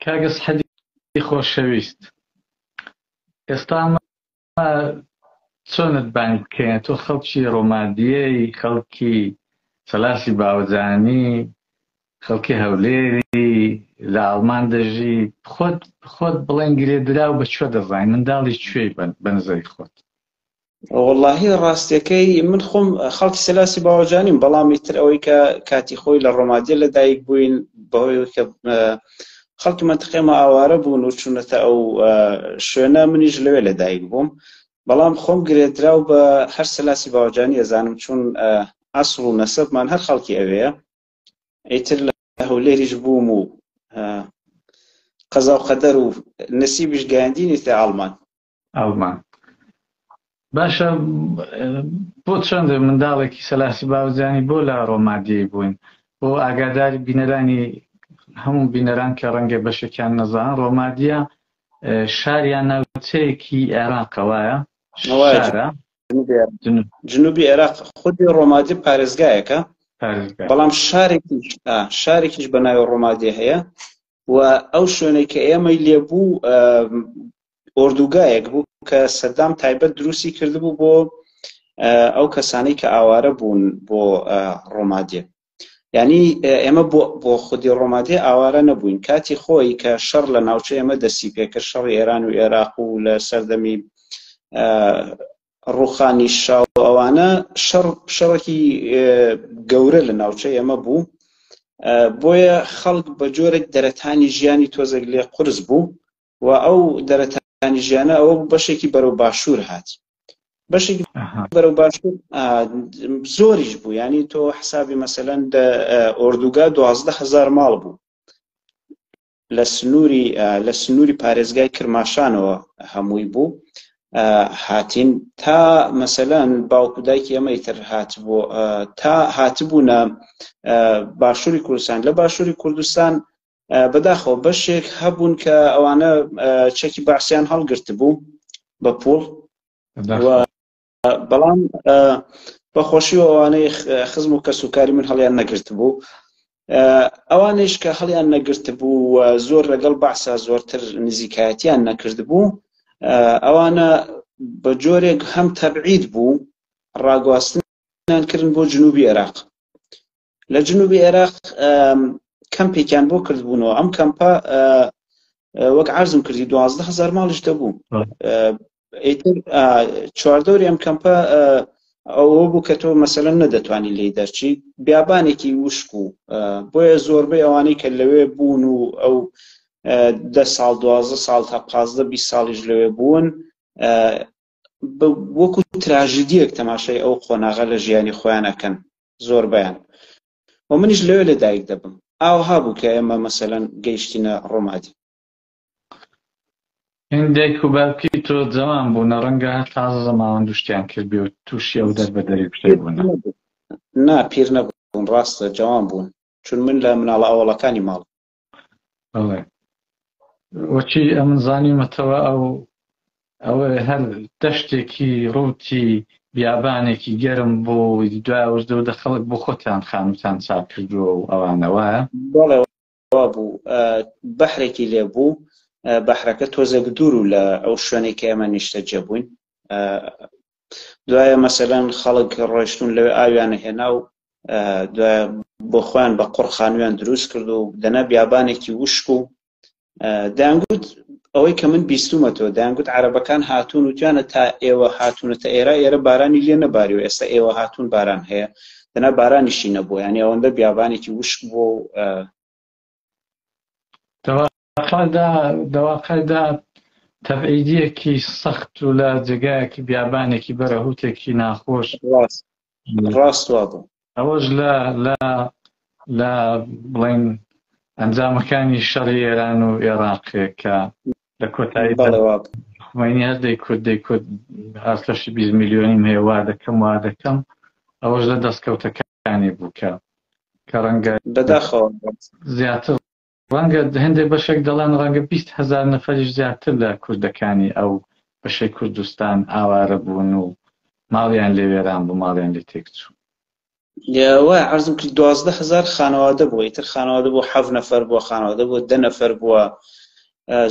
کاک سحدی خۆشەویست ئێستا چۆنت بانگ بکەین تۆ خەڵکی ڕۆمادیەی خەڵکی سەلاسی باوەجانی خەڵکی هەولێری لە ئاڵمان دەژی خۆت خۆت بڵێن گرێدرا و بە کوێ دەزانین منداڵی کوێی بن بە نزای خۆت وەڵاهی ڕاستەکەی من خۆم خەڵکی سەلاسی باوەجانیم بەڵامی تر ئەوەی کە کاتی خۆی لە ڕۆمادیە لە دایک بووین بەهۆی کە خەڵکی منتقێمە ئاوارە بوون و چونەتە ئەو شوێنە منیش لەوێ لە دایک بووم بەڵام خۆم گرێدراو بە هەر سەلاسی باوەجانی ئەزانم چون ئەسڵ و نەسەبمان هەر خەڵکی ئەوەیە ئەیتر لە هەولێریش بووم و قەزا و قەدەر و نسیبیش گەیاندینی تە ئاڵمان ئاڵمان باشە بۆ چەند منداڵێکی سەلاسی باوزانی بۆ لە ڕۆمادیی بووین بۆ ئاگاداری بینەرانی هەموو بینەران کە ڕەنگە بەشێکیان نەزان ڕۆمادیە شاریان ناوچەیەکی عێراقە وایە شارە جنوبی عێراق خودی ڕۆمادی پارێزگایەکە بەڵام شارێکی شارێکیش بە ناوی ڕۆمادی هەیە و ئەو شوێنەی کە ئێمەی لێبوو ئۆردوگایەک بوو کە سەدام تایبەت دروستی کردبوو بۆ ئەو کەسانەی کە ئاوارە بوون بۆ ڕۆمادێ ینی ئێمە بۆ خودی ڕۆمادێ ئاوارە نەبووین کاتی خۆی کە شەڕ لە ناوچە ئێمە دەستی پێکرد شەڕی ئێران و عێراق و لە سەردەمی ڕوخانی شا و ئەوانە شەڕ شەڕێکی گەورە لە ناوچەی ئەمە بوو بۆیە خەڵک بە جۆرێک دەرەتانی ژیانی تۆزێک لێ قرس بوو و ئەو دەرەتانی ژیانە ئەوە بەشێکی بەرەو باشوور هات بەشێکی بەرەو باشوور زۆریش بوو ینی تۆ حسابی مەسەەن ئۆردوگا دوازدە هزار ماڵ بوو لە سنووری لە سنووری پارێزگای کرماشانەوە هەمووی بوو هاتین تا مەسەلەن باوکو دایکی ئەمەی تر هاتبوو تا هاتبوونە باشووری کوردستان لە باشووری کوردستان بەداخەوە بەشێک هەبوون کە ئەوانە چەکی باسییان هەڵگرت بوو بە پوڵ بەڵام بەخۆشی و ئەوانەی خزم و کەس و کاری من هەڵیان نەگرت بوو ئەوانش کە هەڵیان نەگرت بوو و زۆر لەگەڵ بەعسا زۆرتر نزیکایەتیان نەکرد بوو ئەوانە بە جۆرێک هەم تەبعید بوو ڕاگواستنیان کردن بۆ جنوبی عێراق لە جنوبی عێراق کەمپێکیان بۆ کردبوونەوە ئەم کەمپە وەک عرضم کردی دوازدە هزار ماڵیش دەبوو چواردەوری ئەم کەمپە ئەوە بوو کە تۆ مەسەلە نەدەتوانی لی دەرچی بیابانێکی وشک و بۆیە زۆربەی ئەوانەی کە لەوێ بوون و ئەو دە ساڵ دوازە ساڵ تا پازدە بی ساڵیش لەوێ بوون وەکو تراژیدیەک تەماشای ئەو قۆناغە لە ژیانی خۆیان ئەکەن زۆربیان و منیش لەوێ لە دایک دەبم ئاوها بوو کە ئێمە مەسەلەن گەیشتینە ڕۆمادی هین دایک و باوکی تۆ جەوان بوونە ڕەنگە هەر تازە زەماوەند و شتیان کردبێ و تووشی ئەو دەربەدەری و شتەی بوونە نا پیر نەبوون ڕاستە جەوان بوون چون من لە مناڵە ئەوەڵەکانی ماڵ بەڵێ وەکی ئەمن زانیمەتەوە ئەو ئەوە هەر دەشتێکی ڕووتی بیابانێکی گەرم بۆ دوایوردە و دەخەڵک بۆ خۆتان خانوتان چاک کردووە و ئەوانەوە بوو بەحرێکی لێ بوو بەحرەکە تۆزێک دوور و لە ئەو شوێنێک کە ئێمە نیشتە جێبووین دوایە مەسەلەن خەڵک ڕۆشتون لەوێ ئاویانە هێنا و دوایە بۆ خۆیان بە قڕ خانویان دروست کرد و دەنا بیابانێکی وشک و دەنگوت ئەوەی کە من بیستومە تۆ دەنگوت عربەکان هاتوون و توانە تا ئێوە هاتوونە تا ئێرە ئێرە بارانی لێ نەباری و ئێستا ئێوە هاتوون باران هەیە دەنا بارانیشی نەبوو یانی ئەوەندە بیابانێکی وشک بۆ دەواقعدا تەبعیدیەکی سەخت و لە جێگایەکی بیابانێکی بەرەهوتێکی ناخۆش ڕاست ئەوەش لە لە بڵین ئەنجامەکانی شەڕی ئێران و ئێراقێک کە لە کۆتایی خوێنی هەر دەی کورد دەی کورد هەستەشی 20 میلیۆنیم هەیە وا دەکەم وا دەکەم ئەوەش لە دەستکەوتەکە شتانێک بوو کە کە ڕەنگە بەداخەوە زیاتر ڕەنگە هەندێک بەشێک دەڵێن ڕەنگە بیست هەزار نەفەریش زیاتر لە کوردەکانی ئەو بەشەی کوردستان ئاوارە بوون و ماڵیان لێ وێران بوو ماڵیان لێ تێکچوو لەوە عرضم کرد دوازدە هزار خانەوادە بووە ئیتر خانەوادە بۆ حەف نەفەر بووە خانەوادە بۆ دە نەفەر بووە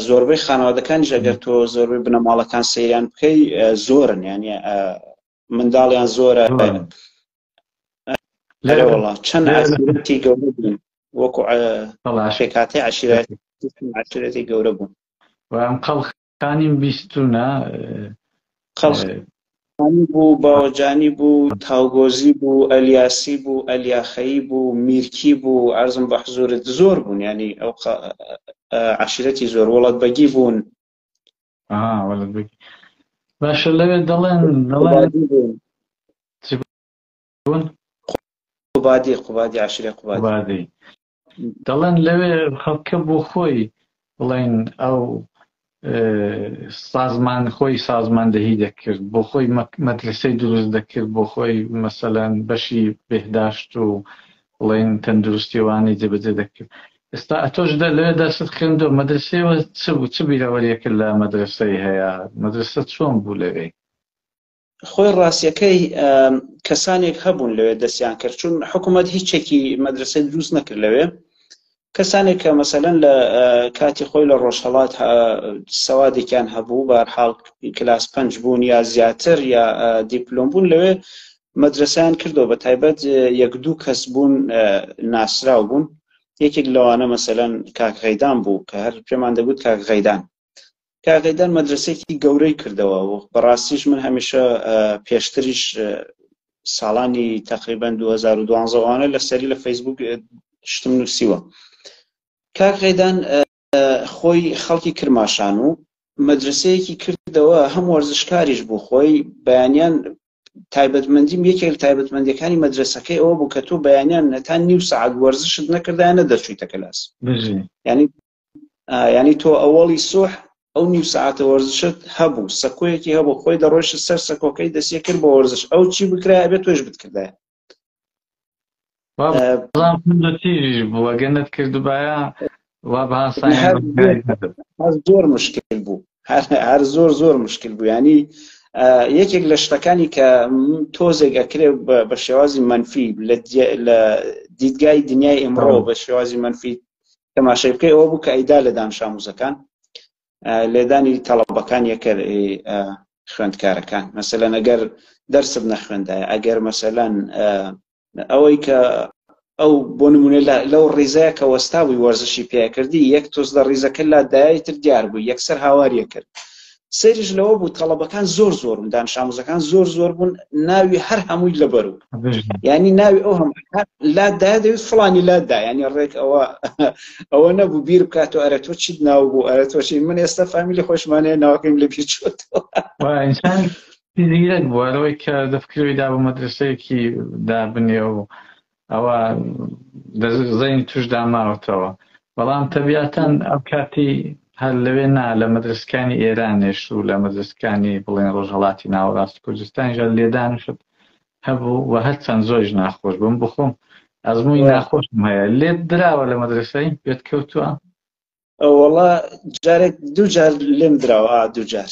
زۆربەی خانەوادەکانیش ئەگەر تۆ زۆربەی بنەماڵەکان سەیران بکەی زۆرن یانە منداڵیان زۆرە لێرە وڵا چەند ئەسیرەتی گەورە بوون وەکو شێکاتی عشرەتی گەورە بوون وام قەڵخانیم بیستونە قەڵخ بوو باوەجانی بوو تاوگۆزی بوو ئەلیاسی بوو ئەلیاخەیی بوو میرکی بوو ئارزم بە حزورت زۆر بوون ینی ئەو عشرەتی زۆر وڵات بەگی بوون آه ولد بك باشە لەوێ دەڵێن دەڵێن قوبادی قوبادی عشرە قوبادی دەڵێن لەوێ خەڵکە بۆ خۆی بڵێن ئەو سازمان خۆی سازماندەهی دەکرد بۆ خۆی مەدرسەی دروست دەکرد بۆ خۆی مەسەلەن بەشی بهداشت و بڵێن تەندروستی ئەوانەی جێبەجێ دەکرد ئێستا ئەتۆش دە لەوێ دەرست خوێندۆ مەدرسەیەوە چ بوو چ بیرەوەریەکە لە مەدرسەی هەیە مەدرسە چۆن بوو لەوێی خۆی ڕاستیەکەی کەسانێک هەبوون لەوێ دەستیان کرد چون حکوومەت هیچێکی مەدرسەی دروست نەکرد لەوێ کەسانێک کە مەسەلەن لە کاتی خۆی لە ڕۆژهەڵات سەوادێکیان هەبوو بارحاڵ کلاس پنج بوون یا زیاتر یا دیپلۆم بوون لەوێ مەدرسیان کردەوە بە تایبەت یەک دوو کەس بوون ناسراو بوون یەکێک لەوانە مەسەلەن کاک غەیدان بوو کە هەر پێمان دەگوت کاک غەیدان کاغیدەر مەدرسێکی گەورەی کردەوە و بەڕاستیش من هەمیشە پێشتریش ساڵانی تقریبان 2012وانە لە سەری لە فەیسبوک شتم نووسیوە کاغیدان خۆی خەڵکی کرماشان و مەدرسەیەکی کردەوە هەم وەرزشکاریش بوو خۆی بەیانیان تایبەتمەندیم یەکێک لە تایبەتمەندەکانی مەدرسەکەی ئەوە بوو کە تۆ بەیانیان نەتان نیو سعات وەرزشت نەکردایانە دەرچوویتە کەلاس ینی یعنی تۆ ئەوەڵی سوح ئەو نیو ساعتە وەرزشت هەبوو سەکۆیەکی هەبوو خۆی دەڕۆیشت سەر سەکۆکەی دەسیە کرد بۆ وەرزش ئەو چی بکرای بێت تۆش بتکردای تیژ بووە گەنت کردبایە وا زۆر مشکل بوو هەر زۆر زۆر مشکل بوو ینی یەکێک لە شتەکانی کە تۆزێک ئەکرێ بە شێوازی منفی لە دیدگای دنیای ئمڕۆ بە شێوازی منفی تەماشای بکەی ئەوە بوو کە ئەیدا لە دانشاموزەکان لێدانی تەڵەبەکان یەکەر خوێندکارەکان مەسەلەن ئەگەر دەرسب نەخوێندای ئەگەر مەسەلەن ئەوەی کە ئەو بۆ نمونە لەو ڕیزەیە کە وەستاوی وەرزشی پێکردی یەک تۆز لە ڕیزەکە لا دایتر دیار بوو یەکسەر هاواریە کرد سەیرش لەوە بوو تەڵەبەکان زۆر زۆر بوون دانش ئاموزەکان زۆر زۆر بوون ناوی هەر هەمووی لەبەر و ینی ناوی ئەو هەم لادا دەویست فلانی لادا ینی ڕێک ئەوە ئەوە نەبوو بیر بکات و ئەرە تۆ چیت ناو بوو ئەرە تۆچین من ئێستا فامیلی خۆشمانەیە ناوەکەیم لە بیر چۆت زیرەک بوارەوەی کە دەفکرەوەی دا بە مەدرسەیەکی دابنێ و ئەوە لە زەینی توشدا ماوەتەوە بەڵام تەبیاتەن ئەو کاتی هەر لەوێ نا لە مەدرسکانی ئێرانێش و لە مەدرسکانی بڵێن ڕۆژهڵاتی ناوەڕاست کوردستانیش لێدان و شت هەبوو و هەرچەند زۆریش ناخۆش بم بخۆم ئەزمووی ناخۆشم هەیە لێت دراوە لە مەدرسەی پێت کەوتووە ئەوەڵا جارێک دوو جار لێم دراوە دوو جار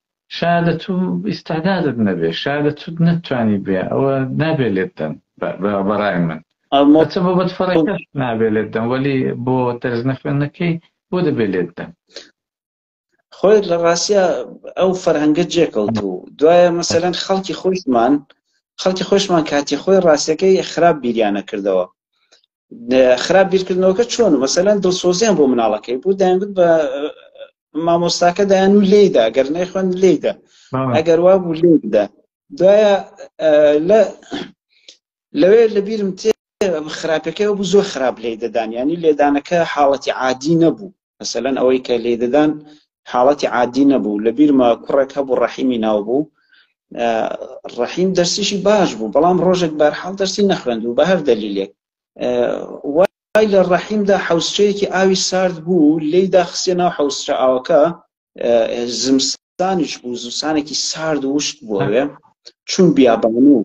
شایەدە تو ئیستعدادت نەبێ شایەدە توت نەتتوانی بێ ئەوە نابێ لێت دەن بەڕای من ئەچە بۆ بەت فەڕێکەش نابێ لێت دەم وەلی بۆ دەرس نەخوێندنەکەی بۆ دەبێ لێت دەم خۆی لە ڕاستە ئەو فەرهەنگە جێکەوت و دوایە مەسەرەن خەڵکی خۆشمان خەڵکی خۆشمان کاتی خۆی ڕاستەکەی خراپ بیریانە کردەوە خراپ بیرکردنەوەکە چۆن مەسەلەن دڵسۆزیان بۆ مناڵەکەی بوو دایانگوت بە مامۆستاکە دایان و لێدا گەر نەیخوێن لێدا ئەگەر وا بوو لێدا دوایە لە لەوێ لە بیرم تێ خراپەکەی بوو زۆر خراپ لێ دەدان ینی لێدانەکە حاڵەتی عادی نەبوو مەسەلەن ئەوەی کە لێیدەدان حاڵەتی عادی نەبوو لە بیرمە کوڕێک هەبوو ڕەحیمی ناو بوو ڕەحیم دەرسیشی باش بوو بەڵام ڕۆژێک بارحاڵ دەرسی نەخوێند و بە هەر دەلیلێک وای لە ڕەحیمدا حوسچەیەکی ئاوی سارد بوو لێیدا خسیە ناو حوسچە ئاوەکە زمستانیش بوو زستانێکی سارد وشک بۆێ چون بیابان و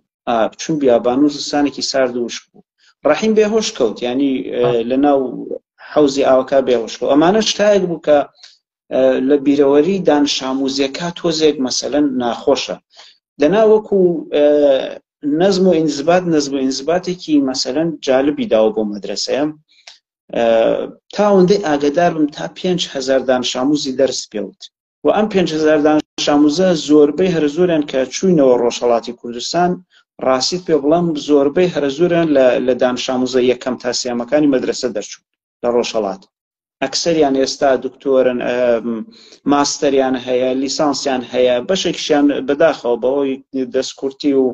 چون بیابان و زستانێکی سارد وشک بوو ڕحیم بێهۆش کەوت ینی لە ناو حوزی ئاوکە بێهۆشکە ئەمانە شتایەک بوو کە لە بیرەوەری دان شاموزیەکە تۆزێک مەسەەن ناخۆشە دەنا وەکو نەزم و ئینزبات نەزم و ئینزباتێکی مەسەەن جالبی داوە بۆ مەدرسەیە تا ئەوەندەی ئاگدار بم تا پێنج هزار دانشاموزی دەرس پێوت و ئەم پێنج هزار دانشاموزە زۆربەی هەر زۆرن کە چوینەوە ڕۆژهڵاتی کوردستان ڕاستیت پێ بڵم زۆربەی هەر زۆرن لە دانشاموزە یەکەم تا سیامەکانی مەدرسە دەرچوون لە ڕۆژهڵات ئەکسەریان ئێستا دکتۆرن ماستەریان هەیە لیسانسیان هەیە بەشێکشیان بەداخەوە بەوەی دەستکورتی و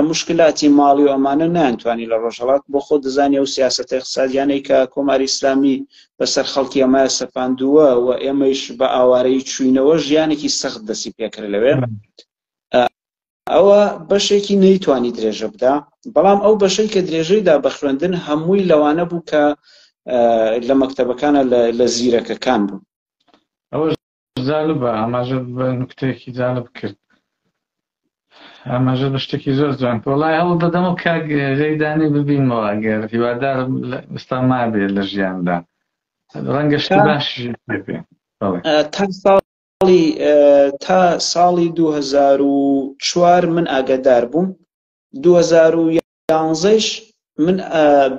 مشکلاتی ماڵی و ئەمانە نانتوانی لە ڕۆژهڵات بۆ خۆ دەزانانی ئەو سیاست اقتصادیانەی کە کۆماری ئسلامی بەسەر خەڵکی ئەمە سەپاندووە و ئێمەیش بە ئاوارەی چوینەوە ژیانێکی سەخت دەسی پێکرد لەوێ ئەوە بەشێکی نەیتوانی درێژە بدا بەڵام ئەو بەشەی کە درێژەیدا بە خوێندن هەمووی لەوانە بوو کە لە مەکتتەبەکانە لە زیرەکەکان بوو ئەوە جالبە ئاماژەت بە نکتەیەکی جالب کرد ئاماژە بە شتێکی زۆر جوان کە وڵای هەوڵ دەدەم و کاک غەیدانی ببینمەوە گەر هیوادارم ئستا مابێ لە ژیاندا ڕەنگە شتی باش بێ تا ساڵی تا ساڵی 2004 من ئاگادار بووم 2000 یانزەیش من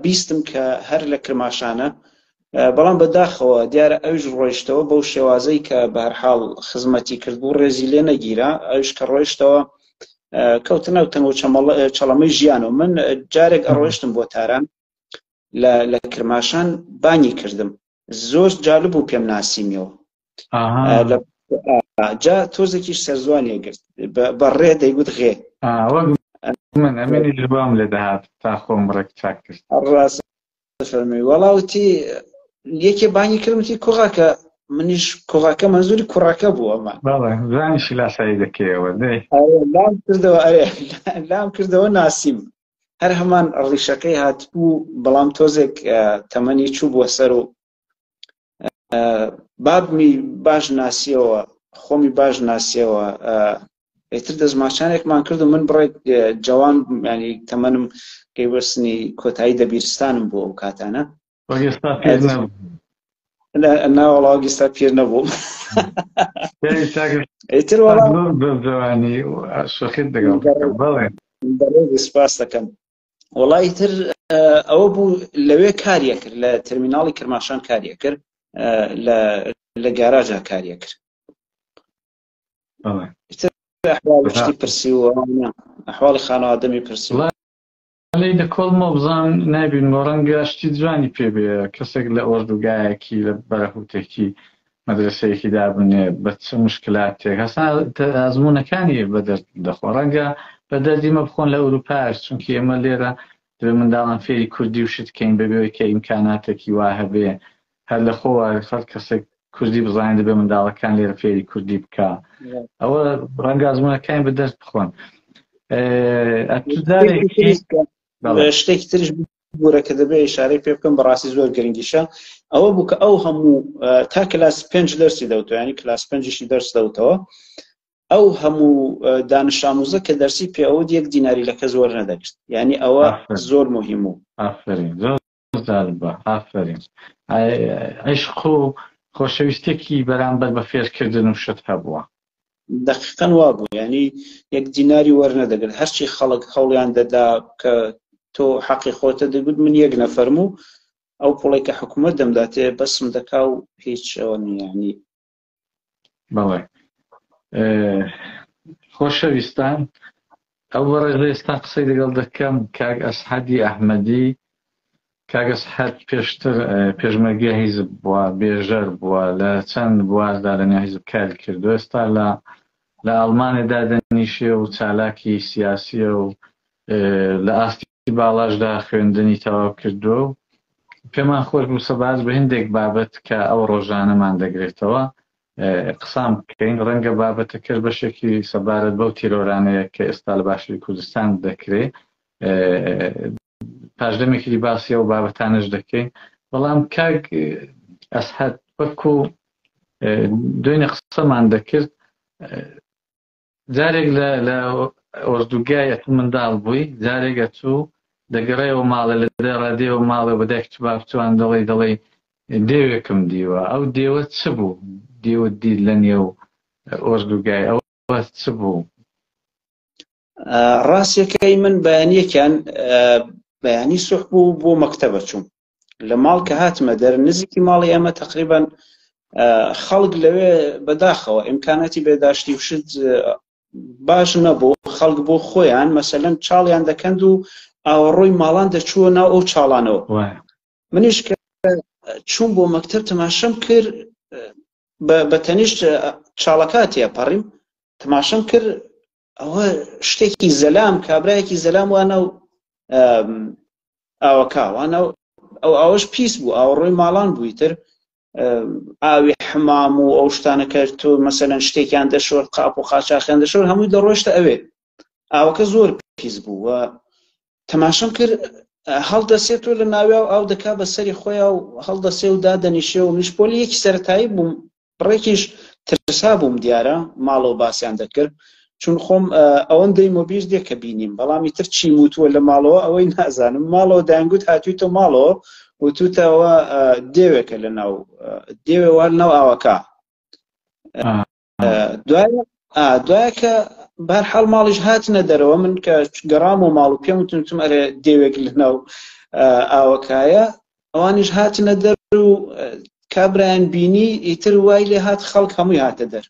بیستم کە هەر لە کرماشانە بەڵام بەداخەوە دیارە ئەوش ڕۆیشتەوە بەو شێوازەی کە بەرحاڵ خزمەتی کرد بوو ڕێزی لێ نەگیرا ئەوش کە ڕۆیشتەوە کەوتە ناو تەنگۆ چەڵەمەی ژیانەوە من جارێک ئەڕۆشتم بۆ تاران لە کرماشان بانی کردم زۆر جالب بوو پێم ناسیمیەوە جا تۆزێکیش سەرزوانیە گرت بە ڕێ دەیگوت غێ من ئەمێنی جوام لێ دەهات تا خۆم ڕێک چاک کرد ڕاست فەرمی وەڵاوتی یەکێ بانی کردمتی کوڕاکە منیش کوڕاکە مەزوری کوڕاکە بوو ئەمە زانیشی لاسایی دەکەیەوە دەی لام کردەوە ئەرێ لام کردەوە ناسیم هەر هەمان ڕیشەکەی هاتبوو بەڵام تۆزێک تەمەنی چوو بووە سەر و بابمی باش ناسیەوە خۆمی باش ناسیەوە ئێتر دەستماچانێکمان کرد و من بڕێک جوان ینی تەمەنم پێیوەستنی کۆتایی دەبیرستانم بۆ ئەو کاتانە وەک ئێستا پیر نەبوو ناوەڵا وەک ئێستا پیر نەبووم ئیتر جوانی شەخیت دەگەڵ بڵێ سپاس دەکەم وڵی تر ئەوە بوو لەوێ کاریە کرد لە تەرمیناڵی کرماشان کاریە کرد لە گاراژا کاریە کرد شتی پرسی و ئەحواڵی خانەوادەمی پرسی لێی دەکۆڵمەوە بزانم نایبینمەوە، ڕەنگە شتی جوانی پێ بێ، کەسێک لە ئۆردوگایەکی، لە بەرهووتێکی مەدرەسەیەکی دابنێ، بە چ موشکلاتێک، هەستا ئەزموونەکانی بە دەرد دەخۆن، ڕەنگە بە دەردی مە بخۆن لە ئورووپاش، چونکی ئێمە لێرە دەبێ منداڵان فێری کوردی و شت کەین، بەبێ ئەوەی کە ئیمکاناتێکی وا هەبێ، هەر لە خۆ وارێ خەڵک کەسێک کوردی بزانێت دەبێ منداڵەکان لێرە فێری کوردی بکە ئەوە ڕەنگە ئەزمونەکان بە دەست بخۆن شتێکی ترش بورە کە دەبێ شارەی پێ بکەم بەڕاستی زۆر گرنگیشە ئەوە بوو کە ئەو هەموو تا کلاس پێنج دەرسی دەوتوانی کلاس پێنجشی دەرس دەوتەوە ئەو هەموو دانشاموزە کە دەرسی پێوە یەک دیناری لە کەس وەرنەدەگرت یعنی ئەوە زۆر مهم و بەردەوامبە بەردەوامبە ئافەرین. عیشق و خۆشەویستیەکی بەرامبەر بە فێرکردن و شت هەبووە. دەقیقەن وابوو یانی یەک دیناری وەرنەدەگرت هەرچی خەڵک هەوڵیان دەدا کە تۆ حەقی خۆتە دەگوت من یەک نەفەرم و ئەو پوڵەی کە حکومەت دەمداتێ بەسم دەکا و هیچ ئەوە نیە یانی بەڵێ خۆشەویستان ئەو بەڕێز ئێستا قسەی لەگەڵ دەکەم کاک ئەسحەدی ئەحمەدی کاگەس حەد پێشتر پێشمەرگە هیزب بووە بێژەر بووە لە چەند بواردا لە نەهیزب کار کردو ئێستا لە لە ئەڵمانێدا دەنیشێ و چالاکی سیاسیە و لە ئاستی باڵاشدا خوێندنی تەواو کردووە و پێمان خۆش بوو سەبارەت بە هەندێک بابەت کە ئەو ڕۆژانەمان دەگرێتەوە قسان بکەین ڕەنگە بابەتەکەش بەشێکی سەبارەت بەو تیرۆرانەیە کە ئێستا لە باشووری کوردستان دەکرێ پاشدەمێکی باسی ئەو بابەتانش دەکەین بەڵام کاک ئەسحەت وەکو دوێنێ قسەمان دەکرد جارێک لە لە ئۆردوگای ئەتوو منداڵ بووی جارێک ئەتوو دەگەڕێەوە ماڵە لە دەڕا دێوە ماڵە بە دایک تو بابتوان دەڵی دەڵی دێوێکم دیوە ئەو دێوە چ بوو دێوە دی لە نێو ئۆردوگای ئەو چ بوو ڕاستەکەی من بەیانیەکیان بەیانی سوح بوو بۆ مەکتەبە چوم لە ماڵ کە هاتمە دەر نزیکی ماڵی ئێمە تقریبان خەڵک لەوێ بەداخەوە ئیمکاناتی بێداشتی وشت باش نەبوو خەڵک بۆ خۆیان مەسەلەن چاڵیان دەکەند و ئاوەڕۆی ماڵان دەچووە ناو ئەو چاڵانەوە منیش کە چوون بۆ مەکتب تەماشەم کرد بە تەنیشت چاڵەکاتیە پەڕیم تەماشەم کرد ئەوە شتێکی زەلام کابراایەکی زەلام وانە و ئاوەکوانە ئەو ئەوەش پیس بوو ئاوڕۆی ماڵان بوویتر ئاوی حمام و ئەو شتانە کرد تۆ مەسەەن شتێکیان دەشۆر قاپ و قاچاخیان دەشۆر هەمووی دەڕۆشتە ئەوێ ئاوەکە زۆر پیس بوو و تەماشم کرد هەڵدەسێت و لە ناویا و ئاو دەکا بە سەری خۆیان و هەڵدەسێ و دادەنیشێ و میشپۆلی یەکی سەتایی بووم بڕێکیش ترسابووم دیارە ماڵەوە باسیان دەکرد چون خۆم ئەوەندەی مۆبیر دێ کە بینیم بەڵامی تر چی وتووە لە ماڵەوە ئەوەی نازانم ماڵەوە دایانگووت هاتووی تۆ ماڵەوە وتوتەوە دێوێکە لە ناو دێوێوە ناو ئاوەکە دوای دوایکە بار حاڵ ماڵیش هاتنە دەرەوە من کە گەڕام و ماڵ و پێم وتنتم ئەرێ دێوێک لە ناو ئاوەکایە ئەوانیش هاتنە دەر و کابرایان بینی ئیتر وای لێ هات خەڵک هەمووی هاتە دەر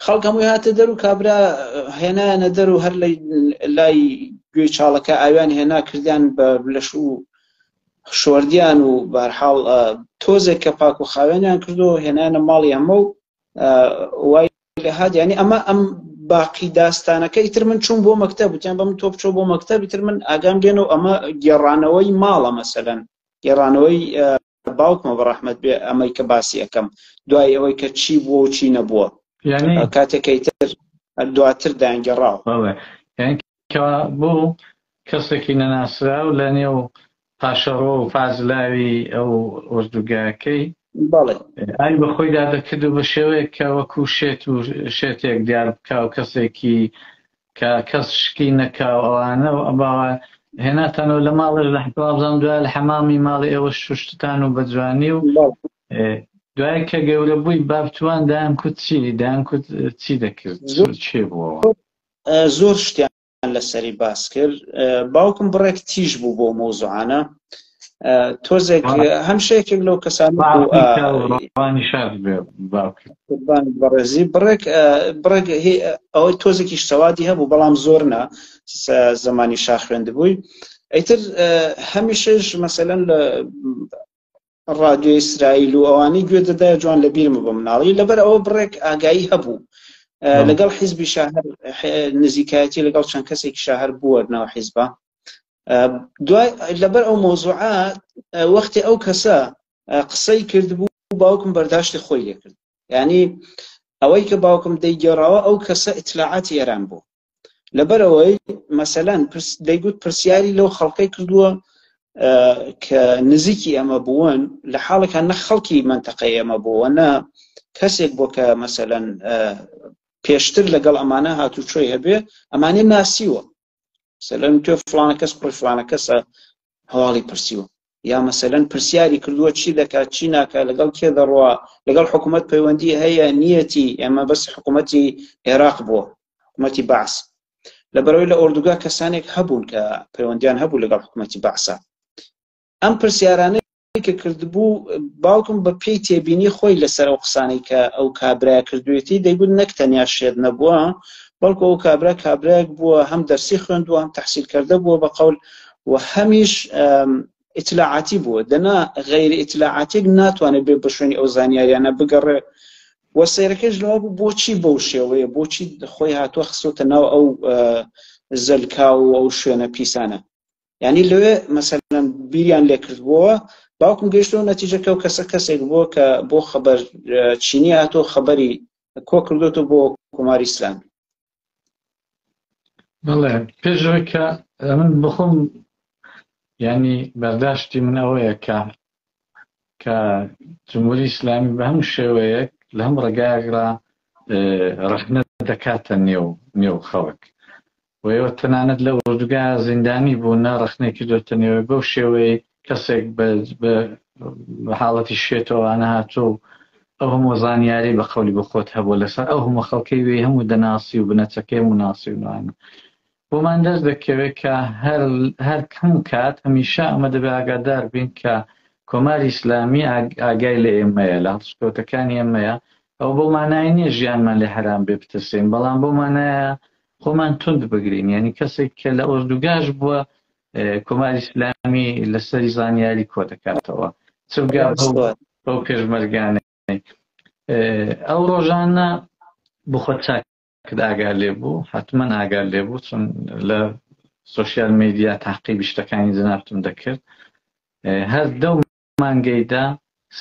خەڵک هەمووی هاتە دەر و کابرا هێنایانە دەر و هەر لای گوێ چاڵەکە ئاویان هێنا کردیان بە لەش و شۆردیان و بارحاڵ تۆزێک کە پاک و خاوێنیان کردو هێنانە ماڵی ئەمە و وای هات یعنی ئەمە ئەم باقی داستانەکە ئیتر من چوون بۆ مەکتەب وتیان بەم تۆ بچۆ بۆ مەکتەب ئیتر من ئاگام لێنە و ئەمە گێڕانەوەی ماڵە مەسەلەن گێڕانەوەی باوکمە بە ڕەحمەت بێ ئەمەی کە باسی ئەەکەم دوای ئەوەی کە چی بووە و چی نەبووە کاتێکیتر دواتر دایانگەڕاو کە بوو کەسێکی نەناسراو لە نێو پاشەڕۆ و پازلاوی ئەو ئۆردوگاکەی ئای بە خۆیدا دەکرد و بە شێوەیەک کە وەکو شێت و شێتێک دیار بکە و کەسێکی کە کەس شکی نەکاو ئەوانە و ئەباوە هێناتانەوە لە ماڵێ لە حکوابزان دوای لە حەمامی ماڵی ئێوە شوشتتان و بە جوانی و دوای کە گەورە بووی بابتوان دایان کوت چی دایان کوت چی دەکرد چێ بووەوە زۆر شتیان لەسەری باس کرد باوکم بڕێک تیژ بوو بۆ مۆزوعانە تۆزێک هەمشەیەکێک لەو کەسان بەڕێزی بڕێک بڕێک ئەوەی تۆزێکیش سەوادی هەبوو بەڵام زۆر نا زمانی شاخوێند بووی ئەیتر هەمیشەش مەسەەن لە ڕادیۆی ئیسرائیل و ئەوانەی گوێ دەدایە جوان لە بیرمە بە مناڵی لەبەر ئەوە بڕێک ئاگایی هەبوو لەگەڵ حیزبی شاهر نزیکایەتی لەگەڵ چەند کەسێکی شاهر بووەرنەوە حیزبە دوای لەبەر ئەو مۆزوعە وەختی ئەو کەسە قسەی کردبوو باوکم بەرداشتی خۆی لێکرد ینی ئەوەی کە باوکم دەیگەڕاوە ئەو کەسە ئیتلاعاتی ئێران بوو لەبەرەوەی مەسەلەن دەیگوت پرسیاری لەو خەڵکەی کردووە کە نزیکی ئەمە بوون لە حاڵێکە نە خەڵکی منتەقەی ئەمە بووە نە کەسێک بۆ کە مەسەەن پێشتر لەگەڵ ئەمانە هاتوو چۆی هەبێ ئەمانە ناسیوە سەلەن تۆ فلانە کەس کوڕی فلانە کەسە هەواڵی پرسیوە یا مەسەلەن پرسیاری کردووە چی دەکات چی ناکات لەگەڵ کێ دەڕوا لەگەڵ حکوومەت پەیوەندی هەیە نیەتی ئێمە بەس حکوومەتی عێراق بووە حکوومەتی باس لە بەرەوەی لە ئۆردوگا کەسانێک هەبوون کە پەیوەندیان هەبوو لەگەڵ حکوومەتی باسە ئەم پرسیارانە کە کردبوو باوکم بە پێی تێبینی خۆی لەسەر ئەو قسانەی کە ئەو کابرای کردوێتی دەیگوت نەک تەنیا شێت نەبووە بەڵکو ئەو کابرا کابراێک بووە هەم دەرسی خوێندووە هەم تحصیل کردە بووە بە قەول و هەمیش ئیتلاعاتی بووە دەنا غیر ئیتلاعاتێک ناتوانێت بێ بە شوێنی ئەو زانیاریانە بگەڕێ و سیرەکەش لەوە بوو بۆچی بەو شێوەیە بۆچی خۆی هاتووە خسۆتە ناو ئەو زەلکا و ئەو شوێنە پیسانە یعنی لەوێ مەسەلەن بیریان لێکردبووە باوکم گەشتەوە نەتیجەکە و کەسە کەسێک بووە کە بۆ خەبەر چینی هاتۆ خەبەری کۆ کردوەوە بۆ کۆماری ئسلامی بەڵێ پێشەوەی کە من بخۆم ینی بەرداشتی من ئەوەیە کە کە جمهوری ئسلامی بە هەموو شێوەیەک لە هەم ڕێگایەکرا ڕخنە دەکاتە نێو نێو خەڵک و ئێوە تەنانەت لە ئۆردوگا زیندانی بوون ڕەخنەی کردۆتە نێوەی بەو شێوەی کەسێک بە بە حاڵەتی شێتەوانە هاتۆ و ئەو هەموو زانیاری بە قەولی بۆ خۆت هەبوو لەسەر ئەو هەموو خەڵکەی وێ هەموو دەناسی و بنەچەکەی هەموو ناسی و نوانە بۆمان دەست دەکەوێت کە هەر هەر کەم کات هەمیشە ئەمە دەبێ ئاگادار بین کە کۆماری ئیسلامی ئاگای لە ئێمەیە لە هەڵسکەوتەکانی ئێمەیە ئەو بۆ مانای نییە ژیانمان لێ حرام بێ بتەسین بەڵام بۆ مانایە خۆمان توند بگرین یعنی کەسێک کە لە ئۆردوگاش بووە کۆماری ئیسلامی لەسەری زانیاری کۆ دەکاتەوە چگا بەو پێشمەرگانە ئەو ڕۆژانە بخۆ چاک ئاگار لێ بوو حتمما ئاگار لێ بوو چون لە سوسیال میدیا تاقیبی شتەکانی جنابتم دەکرد هەر دەو مانگەی دا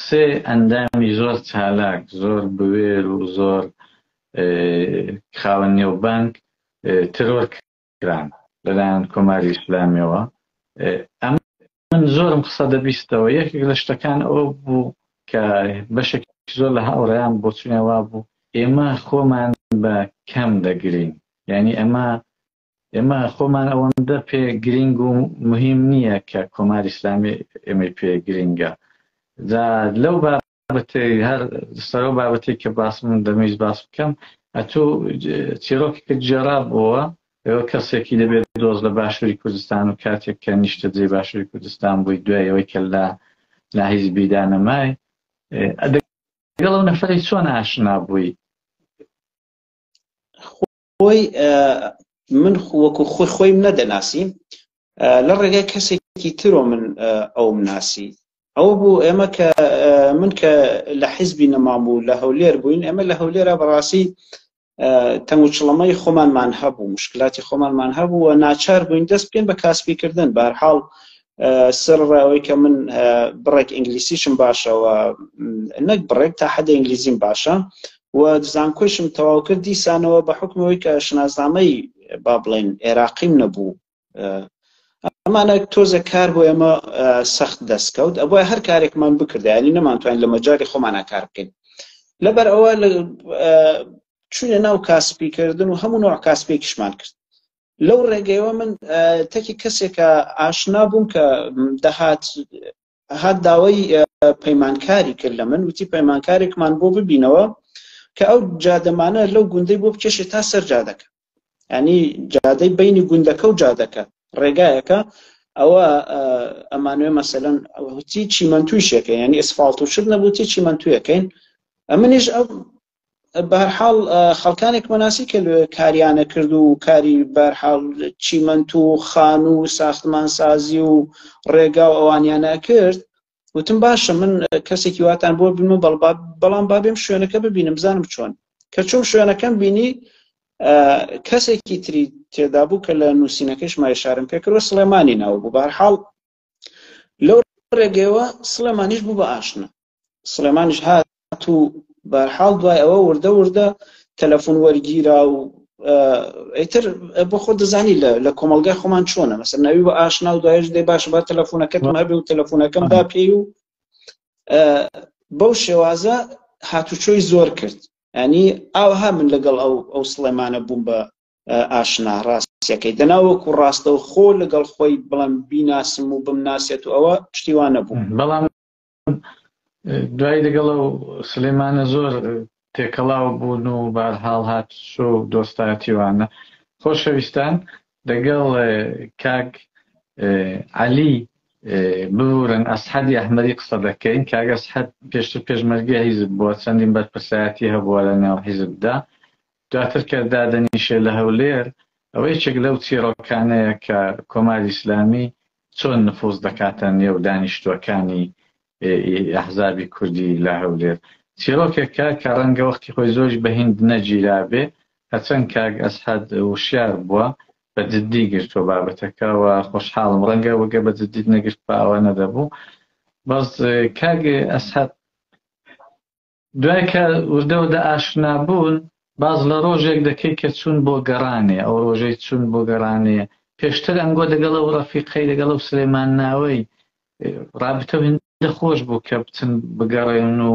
سێ ئەندامی زۆر چالاک، زۆر بوێر و زۆر خاوەن نێوبانگ ترۆر کران لەلایەن کۆماری ئیسلامیەوە. ئەمن زۆرم قسە دەبیستەوە، یەکێک لە شتەکان ئەوە بوو کە بەشێک زۆر لە هاوڕێیان بۆچونیان وابوو ئێمە خۆمان بە کەم دەگرین، یانی ئەمە ئێمە خۆمان ئەوەندە پێ گرنگ و مهم نییە کە کۆماری ئسلامی ئێمەی پێ گرنگە جا لەو بابەتی هەر سەرۆ بابەتی کە باس من دەمەویست باس بکەم ئەتوو چیرۆکێکت جێرا بووە ئەوە کەسێکی دەبێت دۆز لە باشووری کوردستان و کاتێک کە نیشتە جێ باشووری کوردستان بووی دوای ئەوەی کە لە لاهیز بیدانەمای دەگەڵ ئەو نەفری چۆن ئاشنا بووی بۆی من وەکو خۆی خۆیم نەدەناسی لە ڕێگای کەسێکی ترۆ من ئەوم ناسی ئەوە بوو ئێمە کە من کە لە حیزبی نەمان بوو لە هەولێر بووین ئێمە لە هەولێرە بەڕاستی تەنگوچڵەمەی خۆمانمان هەبوو مشکلاتی خۆمانمان هەبوو و ناچار بووین دەست بکەین بە کاسپیکردن بارحاڵ سەر ڕاوەی کە من بڕێک ئینگلیسیشم باشەوە نەک بڕێک تا حەدە ئینگلیزیم باشە و زانکۆشم تەواو کرد دیسانەوە بە حکمەوەی کە شناسنامەی با بڵێن عێراقیم نەبوو ئەمانە تۆزە کار بۆ ئێمە سەخت دەستکەوت ئەوە هەر کارێکمان بکردیانی نەمانتوانین لە مەجاری خۆمانە کار بکەین لەبەر ئەوە چونە ناو کاسپی کردن و هەموو نوع کاسپێکیشمان کرد لەو ڕێگەیەوە من تەکی کەسێکە ئاشنا بووم کە دەهات هات داوای پەیمانکاری کرد لە من وتی پەیمانکارێکمان بۆ ببینەوە کە ئەو جادەمانە لەو گوندەی بۆ بکێشێ تا سەر جادەکە ینی جادەی بینی گوندەکە و جادەکە ڕێگایەکە ئەوە ئەمانوێ مەسەلەن ئەوتی چیمەنتوی شەکە ینی ئەسفاالت و شت نەبووتی چیمەنتویەکەین ئەمنیش ئەو بەرحاڵ خەڵکانێک مەناسی کە کاریانە کرد و کاری بەرحاڵ چیمەنت و خان و ساختمان سازی و ڕێگا و ئەوانیانە کرد وتم باشە من کەسێکی واتان بۆ بمە بەڵام بابێم شوێنەکە ببینم بزانم چۆن کە چۆم شوێنەکەم بینی کەسێکی تری تێدا بوو کە لە نووسینەکەش مای شارم پێکرۆ سلێمانی ناو بوو بارحاڵ لەو ڕێگەیەوە سڵێمانیش بوو بە ئاشنا سڵێمانش هات و بەرحاڵ دوای ئەوە وردە وردە تەلەفۆن وەرگیرا و ئەیتر بۆ خۆ دەزانی لە کۆمەلگای خۆمان چۆنە مەسەر ناوی بە ئاشنا و دوایش دەی باش با تەلەفۆنەکەت مابێ و تەلەفۆنەکەم دا پێی و بەو شێوازە هاتوچۆی زۆر کرد ینی ئاوها من لەگەڵ ئەو ئەو سڵێمانە بووم بە ئاشنا ڕاستیەکەی دەنا وەکو ڕاستەو خۆ لەگەڵ خۆی بڵم بیناسم و بمناسێت و ئەوە پشتیوانە بوو بەڵام دوای لەگەڵە و سلێمانە زۆر تێکەڵاو بوون و بارهاڵ هات شۆ و دۆستایەتیوانە خۆشەویستان لەگەڵ کاک عەلی ببورن ئەسحەدی ئەحمەری قسە دەکەین کاگەس حەد پێشتر پێشمەرگی حیزب بووە چەندین بەرپرسایەتی هەبووە لە ناو حیزبدا دواتر کە دادەنیشێ لە هەولێر، ئەوە یەکێک لەو چیڕۆکانەیە کە کۆماری ئیسلامی چۆن نفوز دەکاتە نێو دانیشتووەکانی ی ئەحزابی کوردی لە هەولێر. چیڕۆکێکە کە ڕەنگە وەختی خۆی زۆریش بە هیند نەگیرابێ، هەرچەند کاک ئەسعەد وشیار بووە، بە جددی گرتووە بابەتەکە و خۆشحاڵم، ڕەنگە گە بە جددیت نەگرتبا ئەوە نەدەبوو. بەس کاک ئەسعەد. دوای کە وردە وردە ئاشنا بوون، باس لە ڕۆژێک دەکەی کە چوون بۆ گەڕانێ، ئەو ڕۆژەی چوون بۆ گەڕانێ، پێشتر ئەنگۆ دەگەڵ ئەو ڕەفیقەی، دەگەڵ ئەو سلێمانناوەی ڕابتە و هێندە خۆش بوو کە بچن بگەڕێن و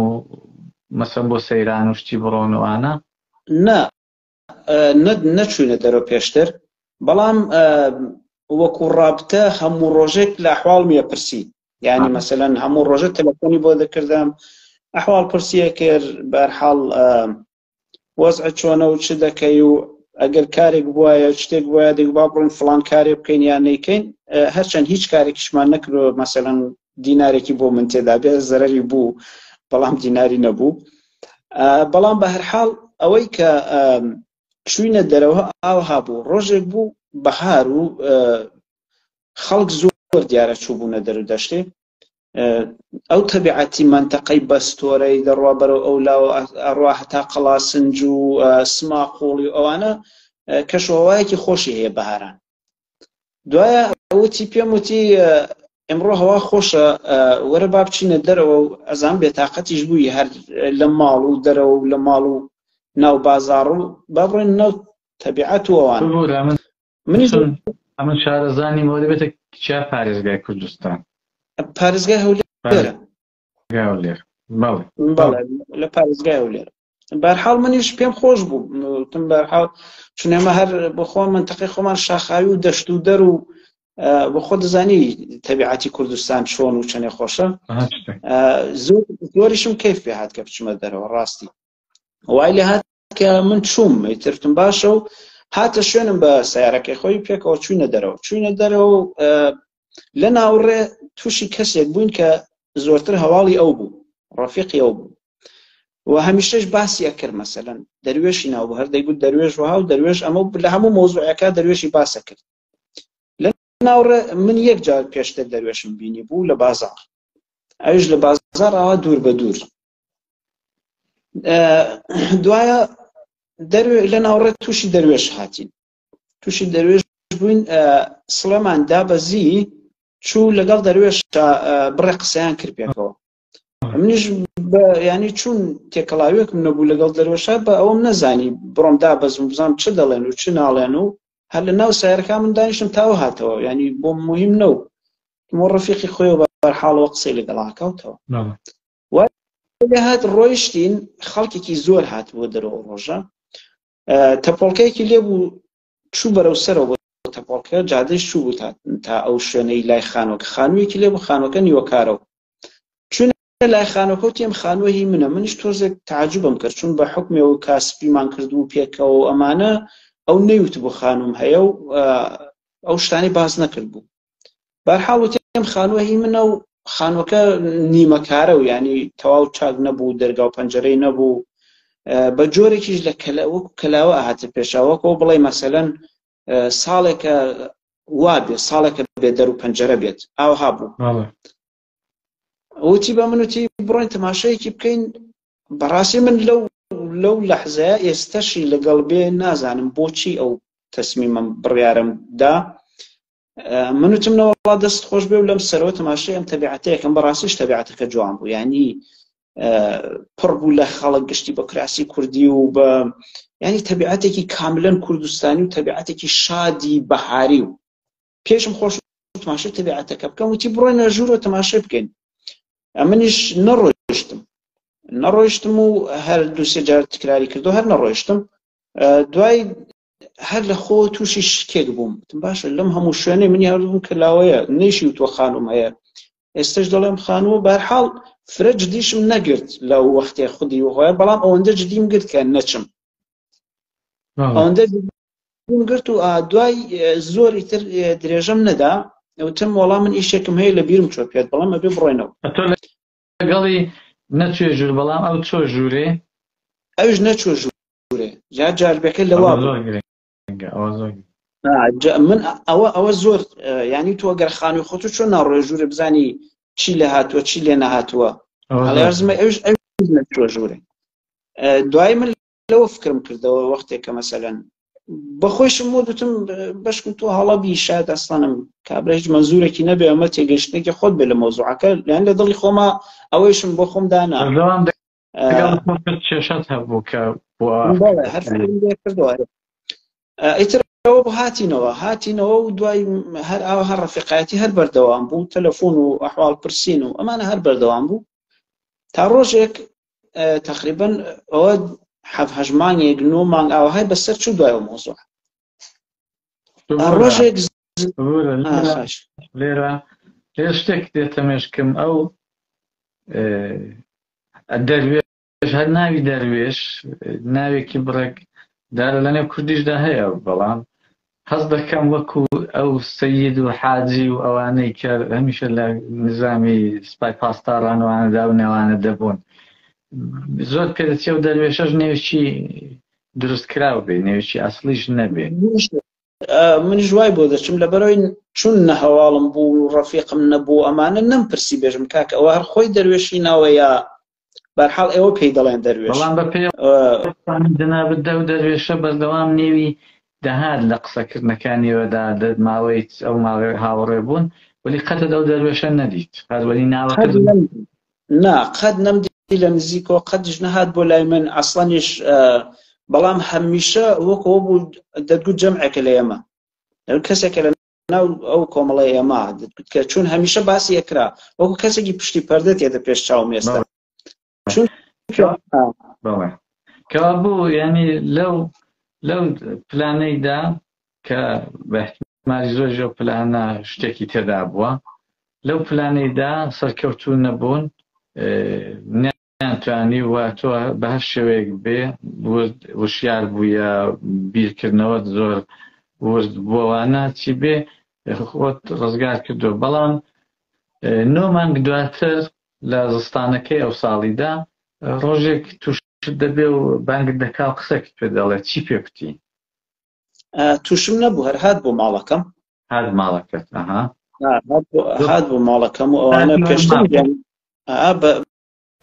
مەسەن بۆ سەیران و شتی بڕۆن و ئانا. نا، نەچوینە دەرەوە پێشتر بەڵام وەکو ڕابتە هەموو ڕۆژێک لە حواڵمیە پرسی یعنی مەسەەن هەموو ڕۆژە تەلەفۆنی بۆ دەکردم ئەحواڵ پرسیە کرد بەرحاڵ وەزع چۆنە و چ دەکەی و ئەگەر کارێک بواە شتێک وایە دەگوبا بڕین فلان کارێ بکەین یان نیکەین هەرچەند هیچ کارێکیشمان نەکرۆ مەسەەن دینارێکی بۆ من تێدا بێ زەرری بوو بەڵام دیناری نەبوو بەڵام بە هەرحاڵ ئەوەی کە چوینە دەرەوە ئاوها بوو ڕۆژێک بوو بەهار و خەڵک زۆر دیارە چوو بوونە دەرو دەشتێ ئەو تەبیعەتی منتەقەی بەستۆرەی دەڕوا بەرەو ئەو لا ئەڕوا هەتا قەڵاسنج و سما قوڵی ئەوانە کەشوەوایەکی خۆشی هەیە بەهاران دوایە وتی پێم وتی ئەمڕۆ هەوا خۆشە وەرە با بچینە دەرەوە و ئەزان بێتاقەتیش بووی هەر لە ماڵ و دەرەوە و لە ماڵ و ناو بازار و با بڕێن ناو تەبیعەت و ئەوان منی ئەمە شارەزانی مۆری بێتە کچیا پارێزگای کوردستان پارێزگای هەولێرە گاولێر بەڵێ بەڵێ لە پارێزگای و لێر بەرحاڵ منیش پێم خۆش بوو تم بەرحاڵ چونێمە هەر بخۆ منتەقی خۆمان شاخاوی و دەشت و دەر و بە خۆ دەزانی تەبیعاتی کوردستان چۆن و چەنێ خۆشە زۆریشم کەیف پێ هاات کە بچمە دەرەوە ڕاستی وای لە هاات کە من چووم ترتم باشە و هاتە شوێنم بە سیارەکەی خۆی پێکەوە چوینە دەرەوە چوینە دەرەوە لە ناوڕێ تووشی کەسێک بووین کە زۆرتر هەواڵی ئەو بوو ڕۆفیقی ئەو بوو و هەمیشەش باسی ئەکرد مەسەن دەروێشی ناو هەر دەیگوت دەروێش وها و دەروێش ئەمە لە هەموو مۆزوعەکە دەروێشی باسە کرد ناوڕێ من یەک جار پێشتر دەروێشم بینی بوو لە بازار ئەوش لە بازار ئاوا دوور بە دوور دوایە لە ناوڕێت تووشی دەروێش هاتین تووشی دەروێش بووین سڵێمان دابەزی چوو لەگەڵ دەروێش بڕێ قسەیان کرد پێکەوە منیش ینی چون تێکەڵاوێکم نەبوو لەگەڵ دەرۆشە بە ئەوم نەزانی بڕۆم دا بەزم بزانام چ دەڵێن و چ ناڵێن و هەر لە ناو سایرەکە من دانیشتم تاو هاتەوە ینی بۆ مهم نەو مۆ ڕفیقی خۆی بەرحاڵەوە قسەی لەگەڵاکەوتەوە هات ڕۆیشتین خەڵکێکی زۆر هات بۆ دەرەوە ڕۆژە تەپۆڵکەیەکی لێبوو چوو بەرەو سەرەوە بۆ تەپۆڵکە، جادەیش چوو بوو تا ئەو شوێنەی لای خانووەکە، خانوویەکی لێ بوو، خانووەکە نیوەکارە و چووینە لای خانووەکە وتی ئەم خانووە هی منە، منیش تۆزێک تەعەجوبم کرد، چوون بە حوکمێ و کا سپیمان کردبوو پێکەوە و ئەمانە، ئەو نەیوتبوو خانووم هەیە و ئەو شتانەی باس نەکردبوو. بەرحاڵ وتم خانووە هی منە و خانووەکە نیمەکارە و ینی تەواو چاک نەبوو دەرگا و پەنجەرەی نەبوو بە جۆرێکیش لە کەلەوەک کەلاوە ئاهاتە پێشەوەکۆ بڵێ مەسەەن ساڵێکە وا بێت ساڵێکە بێ دەر و پەنجەرە بێت ئاوها بوو وتی بە من وتی بڕۆین تەماشەیەکی بکەین بەڕاستی من لەو لەو لەحزەیە ئێستەشی لەگەڵ بێ نازانم بۆچی ئەو تەسمیمم بڕیارم دا من وتمنەوەڵا دەست خۆش بێ و لەم سەرەوە تەماشای ئەم تەبیعاتەیەکەم بەڕاستیش تەبیعاتەکە جوان بوو ینی پڕ بوو لە خەڵک گشتی بە کراسی کوردی و بە ینی تەبیعاتێکی کاملەن کوردستانی و تەبیعاتێکی شادی بەهاری و پێشم خۆش تماشای تەبیعەتەکە بکەم وتی بڕۆینە ژوورۆ تەماشای بکەین ئەمنیش نەڕۆشتم نەڕۆشتم و هەر دووسێ جار تکراری کردو هەر نەڕۆشتم دوای هەر لە خۆ تووشی شکێک بووم تم باشە لەم هەموو شوێنێ منی هەردووم کەلاوەیە نەیشی و تۆ خانم هەیە ئێستش دەڵێم خانوە بارحاڵ فرە جدیشم نەگرت لە وەختێ خودی وهۆە بەڵام ئەوەندە جدیم گرت کە نەچم ئەوەندە بوون گرت و دوای زۆری تر درێژەم نەدا وتم وەڵا من ئیشێکم هەیە لە بیرم چۆ پێت بەڵام ئەبێ بڕۆینەوە لەگەڵی نەچێ ژوور بەڵام ئەو چۆ ژوورێ ئەوش نەچۆ ژوورێ جا جاربەکە لەوا من ئەوە ئەوە زۆر ینی تۆ گەر خانوی خۆت و چۆن ناڕۆێ ژوورە بزانی چی لە هاتووە چی لێ نەهاتووە ئەڵێزمە ئەوش ئەو نەچۆ ژوورێ دوای من لەوە فکرم کردەوە وەختێک کە مەسەلەن بەخۆشم بۆ دوتم بەشکم تۆ هەڵەبی شاد ئەسڵانم کابرا هیچ مەزورێکی نەبێ ئەمە تێگەشتێکی خۆت بێ لە مۆزوعەکە لەیان لە دڵی خۆما ئەوەیشم بۆ خۆم دانا کێشت هەبوو کە کردوە ئیتر ئەوە بۆ هاتینەوە هاتینەوە و دوای هەر ئاو هەر ڕفقایەتی هەر بەردەوام بوو تەلەفۆن و ئەحواڵ پرسین و ئەمانە هەر بەردەوام بوو تا ڕۆژێک تقریبا ئەوە حەف هەژ مانگێک نۆ مانگ ئاوهای بەسەر چوو دوای مۆزوع ڕۆژێک لێرە لێ شتێک دێتە مێشکم ئەو دەروێش هەر ناوی دەروێش ناوێکی بڕێک دارە لەنێو کوردیشدا هەیە بەڵام هەست دەکەم وەکو ئەو سەید و حاجی و ئەوانەی کە هەمیشە لە نزامی سپای پاسداران و ئەوانەدا و نەوانە دەبوون زۆر پێ دەچێ و دەروێشەش نێوچی دروست کراو بێ نێوچی ئەسڵیش نەبێ منیش وای بۆ دەچم لەبەرەوەی چون نە هەواڵم بوو ڕەفیقم نەبوو ئەمانە نەمپرسی بێژم کاک ئەوە هەر خۆی دەروێشی ناوە یا بەرحاڵ ئێوە پێی دەڵێن دەروێش بەڵام بە پێ جەنابت دەو دەروێشە بەردەوام نێوی دەهات لە قسەکردنەکانیەوەدا ماوەی ئەو ماوەی هاوڕێ بوون ولی قەتە دەو دەروێشە نەدیت هەروەنی ناوە نا قەت نەمدی لە نزیکۆ قەتش نەهات بۆ لای من ئەسڵەنیش بەڵام هەمیشە وەکەوە بوو دەتگوت جەمعێکە لە ئێمە کەسێکە لە ناو ئەو کۆمەڵی ئێمە کە چون هەمیشە باسی ئەکرا وەکو کەسێکی پشتی پەردە تێدە پێش چاو مێستا چون کە بوو ینی لەو لەو پلانەیدا کە بەحتمالی زۆر زۆر پلانە شتێکی تێدا بووە لەو پلانەیدا سەرکەوتو نەبوون یان توانیووە تۆ بە هەر شێوەیەک بێ ورد وشیار بوو یا بیرکردنەوەت زۆر ورد بووەوانە چی بێ خۆت ڕزگار کردو بەڵام نۆ مانگ دواتر لە زستانەکەی ئەو ساڵیدا ڕۆژێک توش دەبێ و بانگت دەکا و قسەکت پێ دەڵێ چی پێ کوتی تووشم نەبوو هەر هات بۆ ماڵەکەم هات ماڵەکەت ئەها هات بۆ ماڵەکەم و ئەوانە پێشتر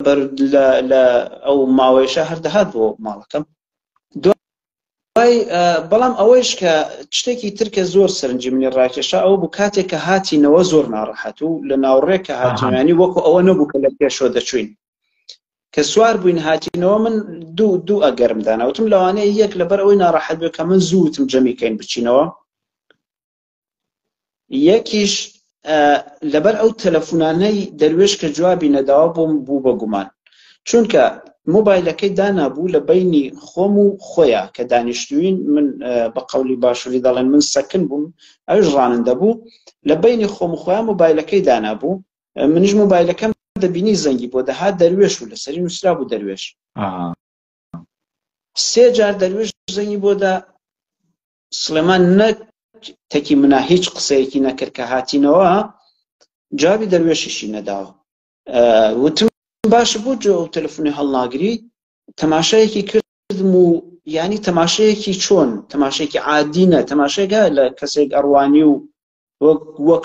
بەر لە ئەو ماوەیشە هەر دەهات بۆ ماڵەکەم دوای بەڵام ئەوەیش کە شتێکی ترکە زۆر سەرنجی منی ڕاکێشا ئەو بوو کاتێک کە هاتینەوە زۆر ناڕەحەت و لە ناوڕێک کە هاتوانی وەکو ئەوە نەبوو کە لە پێشۆ دەچوین کە سوار بووین هاتینەوە من دوو دوو ئەگەرم داناوتم لەوانەیە یەک لەبەر ئەوەی ناڕەحەت بێ کە من زووتم جەمی کەین بچینەوە یەکیش لەبەر ئەو تەلەفۆنانەی دەروێش کە جوابی نەداوە بۆم بوو بە گومان چونکە مۆبایلەکەی دانابوو لە بینی خۆم و خۆیان کە دانیشتوین من بە قولی باشووری دەڵێن من سەکن بووم ئەوش ڕانن دەبوو لە بینی خۆم خۆیان مۆبایلەکەی دانابوو منیش مۆبایلەکەم دەبینی زەنگی بۆ دەهات دەروێش و لەسەری نووسرا بوو دەروێش سێ جار دەروێش زەنگی بۆدا سلێمان نە تەکی منا هیچ قسەیەکی نەکرد کە هاتینەوە جوابی دەروێشیشی نەداوە وتم باش بوو جۆ و تەلفۆنی هەڵناگری تەماشایەکی کردم و ینی تەماشەیەکی چۆن تەماشێکی عادینە تەماشێکە لە کەسێک ئەڕوانی و وەک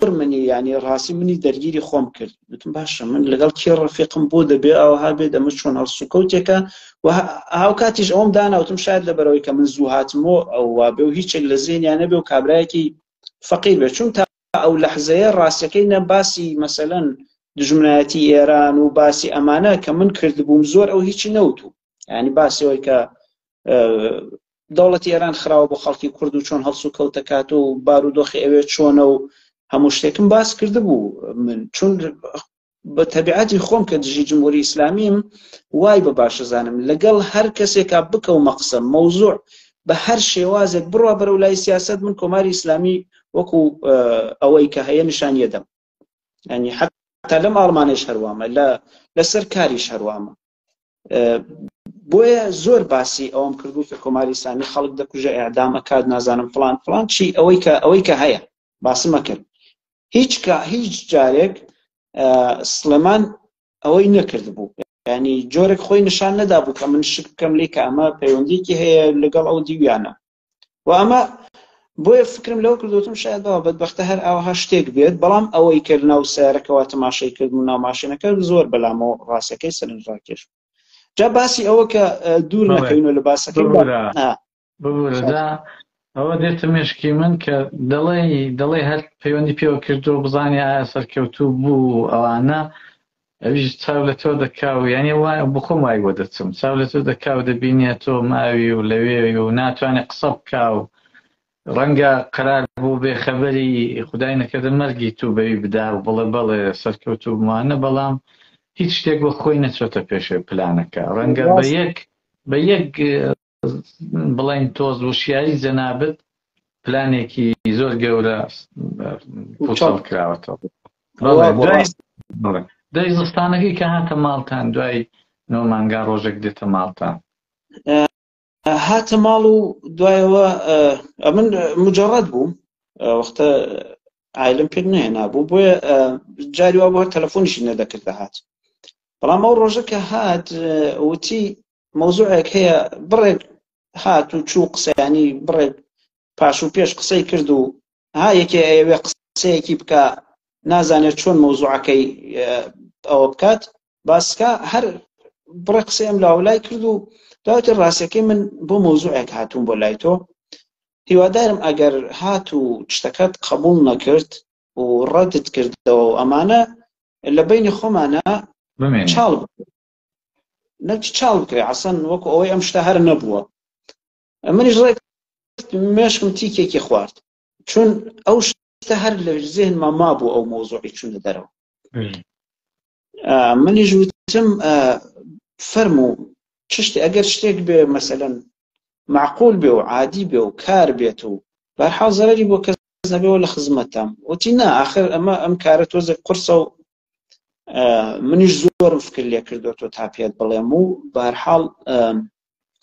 پر منی یعنی ڕاستی منی دەرگیری خۆم کرد وتم باشە من لەگەڵ کێ ڕفیقم بۆ دەبێ ئەوها بێت ئەمە چۆن هەڵسوکەوتێکە و هاو کاتیش ئەوم داناوتم شاید لە بەرەوەی کە من زوو هاتمۆ ئەووا بێ و هیچێک لە زیێنیانە بێ و کابراایەکی فەقیر بێ چون تا ئەو لەحزەیە ڕاستەکەی نە باسی مەسەەن دژمنایەتی ئێران و باسی ئەمانە کە من کردبووم زۆر ئەو هیچی نەوتوو ینی باسەوەی کە دەوڵەتی ئێران خراوە بۆ خەڵکی کورد و چۆن هەڵسو کەوتەکات و بارودۆخی ئەوێ چۆنە و هەموو شتێکم باس کرد بوو من چون بە تەبیعەتی خۆم کە دژی جمهوری ئیسلامیم وای بە باشەزانم لەگەڵ هەر کەسێکا بکەو مەقسم مەوزوع بە هەر شێوازێک بڕوا بەرە و لای سیاست من کۆماری ئیسلامی وەکو ئەوەی کە هەیە نیشانیەدەم ینی حتا لەم ئاڵمانش هەروامە لە لەسەر کاریش هەروامە بۆیە زۆر باسی ئەوم کردو کە کۆماری ئسلامی خەڵک دەکوژە ئەعدام ئەکات نازانم فلان فلان چی ئەوەی کە ئەوەی کە هەیە باسمە کرد هیچ کە هیچ جارێک سلێمان ئەوەی نەکرد بوو ینی جۆرێک خۆی نیشان نەدابوو کە من شک بکەم لێ کە ئەمە پەیوەندیکی هەیە لەگەڵ ئەو دیویانە و ئەمە بۆیە فکرم لەوە کردوتم شاید بەوە بەدبختە هەر ئاوها شتێک بێت بەڵام ئەوەی کرد ناو سارەکەەوە تەماشای کرد و ناوماشێنەکە زۆر بەلامەوە ڕاستەکەی سەرنج ڕاکێش جا باسی ئەوە کە دوور نەکەینەوە لە باسەکە ئەوە دێتە مێشکی من کە دەڵێ دەڵێ هەر پەیوەندی پێوە کردو بزانانی ئایا سەرکەوتوو بوو ئەوانە ئەویش چاو لە تۆ دەکا و یانی وا بۆ خۆم وای بۆ دەچم چاو لە تۆ دەکا و دەبینێ تۆ ماوی و لەوێوی و ناتوانێ قسە بکا و ڕەنگە قەرار بوو بێ خەبەری خودای نەکردە مەرگی تو بەوی بدا و بڵێ بەڵێ سەرکەوتوو بمانە بەڵام هیچ شتێک وەک خۆی نەچۆتە پێش پلانەکە ڕەنگە بە یەک بە یەک بڵین تۆز وشیایی جەنابت پلانێکی زۆر گەورە پوچڵ کراوەتەوە دوای زستانەکەی کە هاتە ماڵتان دوای نۆمانگا ڕۆژێک دێتە ماڵتان هاتە ماڵ و دوایەوە ئەمن مجارڕەت بووم وەختە ئایلم پێ نهێنابوو بۆیە جاری وا بۆ تەلەفۆنیشی نەدەکرد دەهات بەڵام ئەو ڕۆژەکە هات وتی مەوزوعێک هەیە بڕێک هات و چوو قسەیانی بڕێک پاش و پێش قسەی کرد و ها یەکێ ئەوێ قسەیەکی بکە نازانێت چۆن مەوزوعەکەی ئەوە بکات باسکە هەر بڕێ قسەیەم لاولای کرد و داوتە ڕاستەکەی من بۆ مەوزوعێک هاتوون بۆ لای تۆ هیوادارم ئەگەر هات و شتەکەت قبول نەکرد و ڕەدت کردەوە ئەمانە لە بینی خۆمانە چاڵ نەچ چاو بکرێ عسەن وەکو ئەوەی ئەم شتە هەر نەبووە منیش ڕێک مێشکم تیکێکی خوارد چون ئەو شتە هەر لە زێنما مابوو ئەو مۆزۆی چونە دەرەوە منیش وتم فەرموو چشتی ئەگەر شتێک بێ مەسەن معقول بێ و عادی بێ و کار بێت و بەرحاڵ زەرری بۆ کەس نەبێەوە لە خزمەتتان وتی نا آخر ئەمە ئەم کارە تۆزێک قرسە و منیش زۆرم فکر لێ کردو تۆ تا پێت بڵێم و بارحاڵ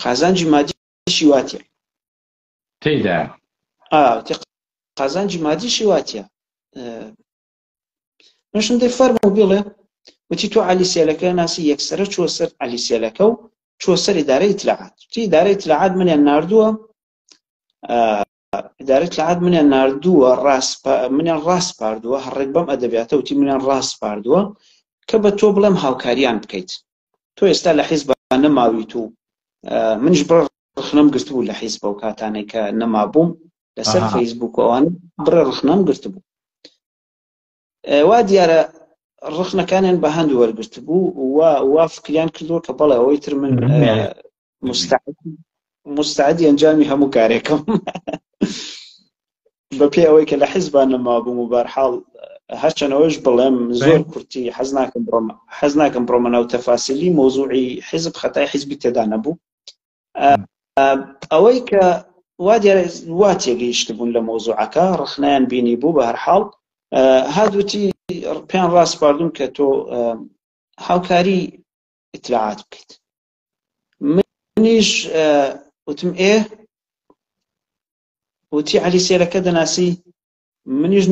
قازانجی مادیشی واتە تێدا قازانجی مادیشی واتە منشم دەی فەرمە و بڵێ وتی تۆ علی سێلەکە ناسی یەکسرە چۆ سەر علی سێلەکە و چۆ سەری دارە ئیتلاعات تی دارە ئیتلاعات منیان نردووە ئیدارەی ئیتلاعات منیان ناردووە ڕاسپا منیان ڕاسپاردووە هەڕێک بەم ئەدەبیاتە وتی منیان ڕاسپاردووە کە بە تۆ بڵێم هاوکاریان بکەیت تۆ ئێستا لە حیزب نەماویت و منش بڕ ڕخنەم گرتبوو لە حیزب و کاتانێک کە نەمابووم لەسەر فەیسبووک ئەوان بڕێ ڕخنەم گرتبوو وا دیارە ڕخنەکانیان بە هەند وەرگرت بوو وا وا فکریان کردووە کە بەڵێ ئەوەی تر من مستعدی ئەنجامی هەموو کارێکم بە پێ ئەوەی کە لە حیزبان نەما بووم و بارحاڵ هەرچەنەوەش بڵێم زۆر کورتی حەز ناکەم بڕۆم حەز ناکەم بڕۆمە ناو تەفاسیلی مۆزوعی حیزب خەتای حیزبی تێدا نەبوو ئەوەی کە وا دیارە وا تێگەیشتبوون لە مۆزوعەکە ڕخنیان بینی بوو بە هەرحاڵ هادوتی پێیان ڕاستپاردون کە تۆ هاوکاری ئیتلاعات بکەیت منیش وتم ئێ وتی علی سێرەکە دەناسی منیش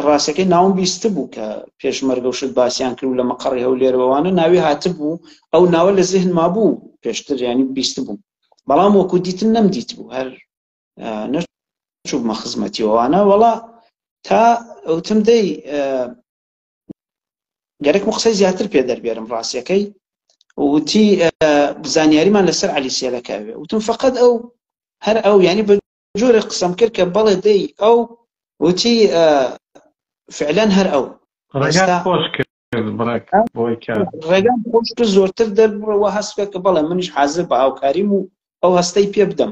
ڕاستەکەی ناوم بیست بوو کە پێشمەرگە و شت باسییان کرد و لە مەقەڕی هەولێرەوەوانە ناوی هاتبوو ئەو ناوە لە زیهن ما بوو پێشتر ینی بیست بوو بەڵام وەکو دیتن نەم دیت بوو هەر نەچوومە خزمەتیەوەوانە وەڵا تا ئەوتم دەی گەرەکم قسەی زیاتر پێ دەربێرم ڕاستیەکەی وتی زانیاریمان لەسەر علی سێلەکەوێ وتم فقط ئەو هەر ئەو ینی جۆرێک قسەم کرد کە بەڵێ دەی ئەو وتی فعلەن هەر ئەو ڕێگات خۆش کرد بڕێک بۆی کە ڕێگام خۆش کرد زۆرتر دەربڕەوە هەست بێت کە بەڵێ منیش حازر بە هاوکاریم و ئەو هەستەی پێ بدەم